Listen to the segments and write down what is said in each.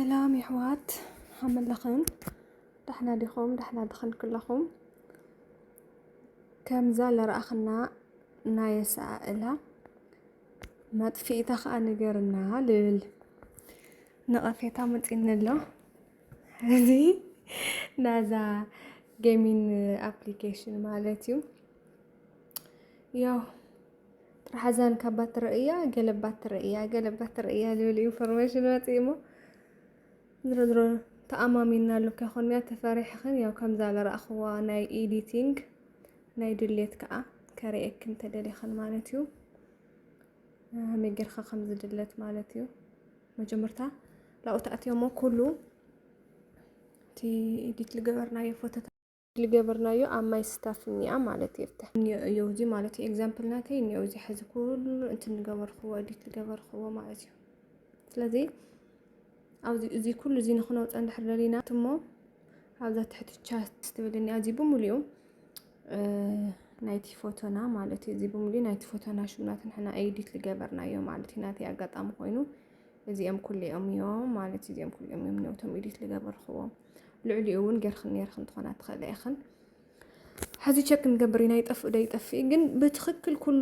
ሰላም የሕዋት ሃመለኽን ዳሕና ዲኹም ዳሕና ድኽን ክለኹም ከምዛ ለረኣኽና ናይ ኣሰኣእላ መጥፊኢታ ከዓ ንገርና ልብል ነቐፌታ መፂኒ ኣሎ እዚ ናዛ ጌሚን ኣፕሊኬሽን ማለት እዩ ያው ጥርሓዛን ካብ ባትሪ እያ ገለ ባትሪ እያ ገለ ባትሪ እያ ዝብል ኢንፎርሜሽን ወፂኡ እሞ ዝሮ ዝሮ ተኣማሚና ኣሉ ከይኮንያ ተፈሪሕኽን ያው ከምዛ ዝረኣኽዋ ናይ ኤዲቲንግ ናይ ድሌት ከዓ ከርእየክን ተደሊኽን ማለት እዩ መይ ጌርካ ከም ዝድለት ማለት እዩ መጀመርታ ላብኡ ተኣትዮ እሞ ኩሉ እቲ ኤዲት ዝገበርናዮ ፎቶታት ልገበርናዮ ኣብ ማይ ስታፍ እኒኣ ማለት የብተ እዮ እዚ ማለት እዩ ኤግዛምፕል ናተይ እኒኦ እዚ ሕዚ ኩሉ እንትን ንገበርክዎ እዲት ዝገበርክዎ ማለት እዩ ስለዚ ኣብዚ እዚ ኩሉ እዚ ንክነውፀ እንድሕር ደሊና እሞ ኣብዛ ትሕቲ ቻት ትብል እኒኣ እዚ ብምሉኡ ናይቲ ፎቶና ማለት እዩ እዚ ብምሉኡ ናይቲ ፎቶና ሽምናት ንሕና ኤዲት ዝገበርናዮ ማለት እዩ ናተይ ኣጋጣሚ ኮይኑ እዚኦም ኩሉ እዮም እዮም ማለት እዩ እዚኦም ኩሉ እዮም እዮም ነውቶም ኤዲት ዝገበርክዎም ልዕሊኡ እውን ገርክን ነርክን ትኾና ትኽእለ ኢኽን ሕዚ ቸክ ክንገብር ኢና ይጠፍእ ዶ ይጠፍእ ግን ብትክክል ኩሉ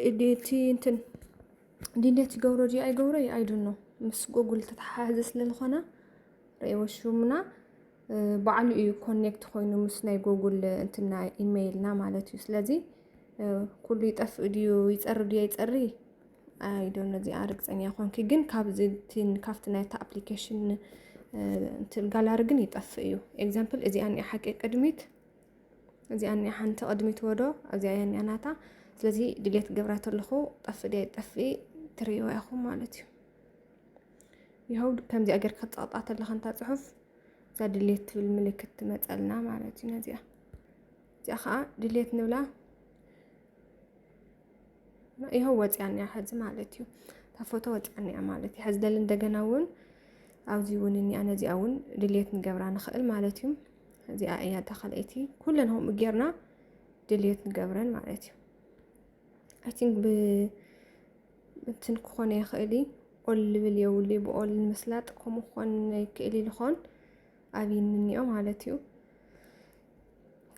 እቲ እንትን ድሌት ይገብሮ ድዩ ኣይገብሮ እዩ ኣይድኖ ምስ ጎጉል ተተሓሓዘ ስለዝኾነ ርእይዎ ሹምና ባዕሉ እዩ ኮኔክት ኮይኑ ምስ ናይ ጎጉል እንትና ኢሜይልና ማለት እዩ ስለዚ ኩሉ ይጠፍእ ድዩ ይፀሪ ድዩ ኣይፀሪ ኣይ ዶን ኖ እዚኣ ርግፀኛ ኮንኪ ግን ካብዚ ቲን ካብቲ ናይቲ ኣፕሊኬሽን እንትን ጋላሪ ግን ይጠፍእ እዩ ኤግዛምፕል እዚኣ እኒኣ ሓቂ ቅድሚት እዚኣ እኒኣ ሓንቲ ቅድሚት ወዶ እዚኣ እያ እኒኣ ናታ ስለዚ ድሌት ገብራ ተለኹ ጠፍእ ድያ ይጠፍኢ ትርእይዋ ኢኹም ማለት እዩ ይኸው ከምዚኣ ጌርካ ክትፀቕጣ ተለኻ እንታ ፅሑፍ እዛ ድሌት ትብል ምልክት ትመፀልና ማለት እዩ ነዚኣ እዚኣ ከዓ ድሌት ንብላ ይኸው ወፂኣን እያ ሕዚ ማለት እዩ ካብ ፎቶ ወፂኣን እያ ማለት እዩ ሕዚ ደሊ እንደገና እውን ኣብዚ እውን እኒኣ ነዚኣ እውን ድሌት ንገብራ ንኽእል ማለት እዩ እዚኣ እያ ተኸለይቲ ኩለን ከምኡ ጌርና ድሌት ንገብረን ማለት እዩ ኣይ ቲንክ ብ እንትን ክኾነ ይኽእል እዩ ኦል ልብል የውሊ ብኦል ንምስላጥ ከምኡ ክኾን ይክእል ይልኾን ኣብይ እንኒኦ ማለት እዩ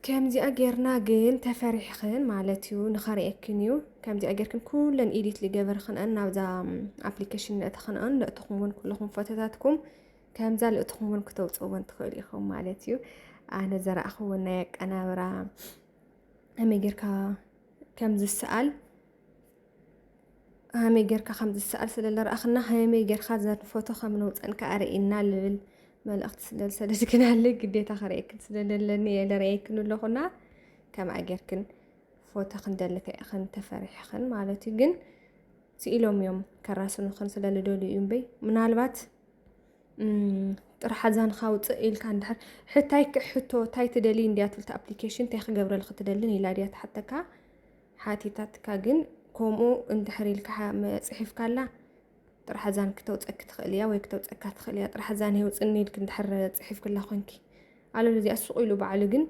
ከምዚኣ ጌርና ግን ተፈሪሕኽን ማለት እዩ ንኸርእየክን እዩ ከምዚኣ ጌርክን ኩለን ኢዲት ዝገበርክንኣን ናብዛ ኣፕሊኬሽን ንእተኽንኣን ንእትኹምውን ኩለኹም ፎቶታትኩም ከምዛ ልእትኹምውን ክተውፅእዎን ትኽእሉ ኢኹም ማለት እዩ ኣነ ዘረእኽዎ ናይ ኣቀናብራ ከመይ ጌርካ ከም ዝሰኣል ሃመይ ጌርካ ከም ዝሰኣል ስለ ዝረኣኽና ሃመይ ጌርካ ዘንፈቶ ከም ነውፀን ከዓ ርእና ልብል መልእኽቲ ስለ ዝሰደድክናለ ግዴታ ክርእየክን ስለ ዘለኒ እየ ዝርእየክን ኣለኹና ከምኣ ጌርክን ፎቶ ክንደልከ ኢኽን ተፈሪሕኽን ማለት እዩ ግን ስኢሎም እዮም ከራስኑኽን ስለ ዝደልዩ እዩ እምበይ ምናልባት ጥራሕ ኣዛንኻ ውፅእ ኢልካ እንድሕር ሕታይ ሕቶ እንታይ ትደልይ እንድያ ትብል ኣፕሊኬሽን እንታይ ክገብረልክ ትደልን ኢላ ድያ ትሓተካ ሓቲታትካ ግን ከምኡ እንድሕር ኢልካ ጽሒፍካላ ጥራሕ እዛን ክተውፀኪ ትኽእል እያ ወይ ክተውፀካ ትኽእል እያ ጥራሕ እዛን የውፅኒ ኢልክ እንድሕር ጽሒፍክላ ኮንኪ ኣለ እዚኣ ሱቕ ኢሉ ባዕሉ ግን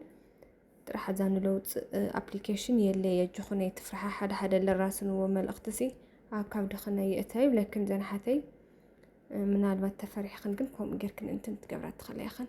ጥራሕ እዛ ንለውፅእ ኣፕሊኬሽን የለ የጅኹነ የትፍርሓ ሓደ ሓደ ለራስንዎ መልእኽቲ ሲ ኣብ ካብ ድኽነ የእተ ይብለክን ዘንሓተይ ምናልባት ተፈሪሕኽን ግን ከምኡ ጌርክን እንትን ትገብራ ትኽእላ ኢኽን